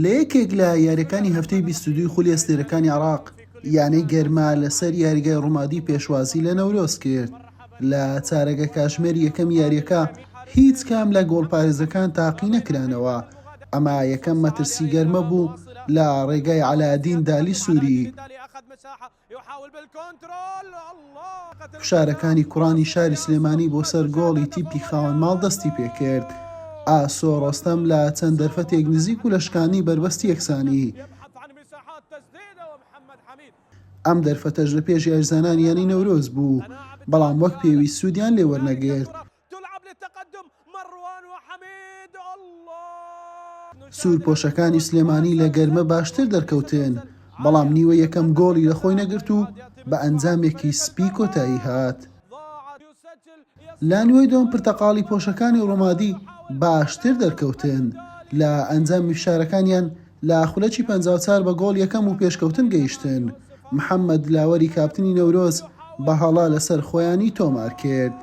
لە یەکێک لە یاریەکانی هەفتەی بیست و دووی خولی ئەستێرەکانی عراق یانەی گەرما لەسەر یاریگای ڕومادی پێشوازی لە نەورۆز کرد لە چارەگە کاژمێر یەکەم یاریەکە هیچ کام لە گۆڵپارێزەکان تاقی نەکرانەوە ئەما یەکەم مەترسی گەرمە بوو لە ڕێگای عەلادین دالی سووری فشارەکانی کوڕانی شاری سلێمانی بۆ سەر گۆڵی تیپی خاوەن ماڵ دەستی پێکرد ئاسۆ ڕۆستەم لە چەند دەرفەتێک نزیک و لە شکانی بەربەستی یەکسانی ئەم دەرفەتەش لە پێش یاریزانانی یانەی نەورۆز بوو بەڵام وەک پێویست سوودیان لێوەرنەگرت تلعب للتقدم مروان وحمید اللە. سوورپۆشەکانی سلێمانی لە گەرمە باشتر دەرکەوتن، بەڵام نیوە یەکەم گۆڵی لە خۆی نەگرت و بە ئەنجامێکی سپی کۆتایی هات. لە نیوەی دووەم پرتەقاڵی پۆشەکانی رومادی باشتر دەرکەوتن لە ئەنجامی فشارەکانیان، لە خولەکی پەنجا و چوار بە گۆڵ یەکەم و پێشکەوتن گەیشتن، محەمەد دلاوەری کاپتنی نەورۆز بە هەڵە لەسەر خۆیانی تۆمارکرد.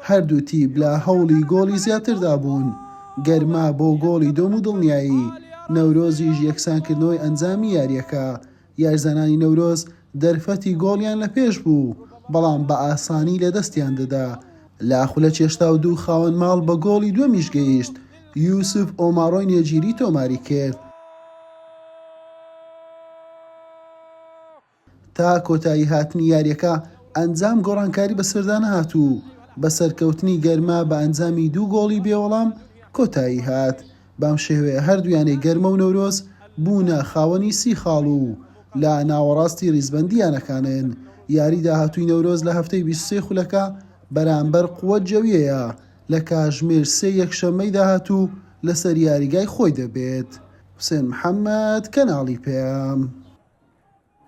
هەردوو تیپ لە هەوڵی گۆڵی زیاتردا بوون، گەرما بۆ گۆڵی دوم و دڵنیایی نەورۆزیش یەکسانکردنەوەی ئەنجامی یارییەکە یاریزانانی نەورۆز دەرفەتی گۆڵیان لە پێش بوو، بەڵام بە ئاسانی لە دەستیان دەدا. لە خولە چێشتاو دوو خاوەن ماڵ بە گۆڵی دووەمیش گەیشت، یوسف ئۆماڕۆی نێجیری تۆماری کرد. تا کۆتایی هاتنی یاریەکە ئەنجام گۆڕانکاری بەسەردا نەهات و بە سەرکەوتنی گەرما بە ئەنجامی دوو گۆڵی بێ وەڵام کۆتایی هات. بەم شێوەیە هەردوو یانەی گەرمە و نەورۆز بوونە خاوەنی سی خاڵ و لە ناوەڕاستی ریزبەندی یانەکانن، یاری داهاتووی نەورۆز لە هەفتەی بیست و سێ خولەکە بەرامبەر قوەت جەوییەیە لە کاژمێر سێ یەکشەممەی داهاتوو لەسەر یاریگای خۆی دەبێت. حوسێن محەمەد، کەناڵی پەیام.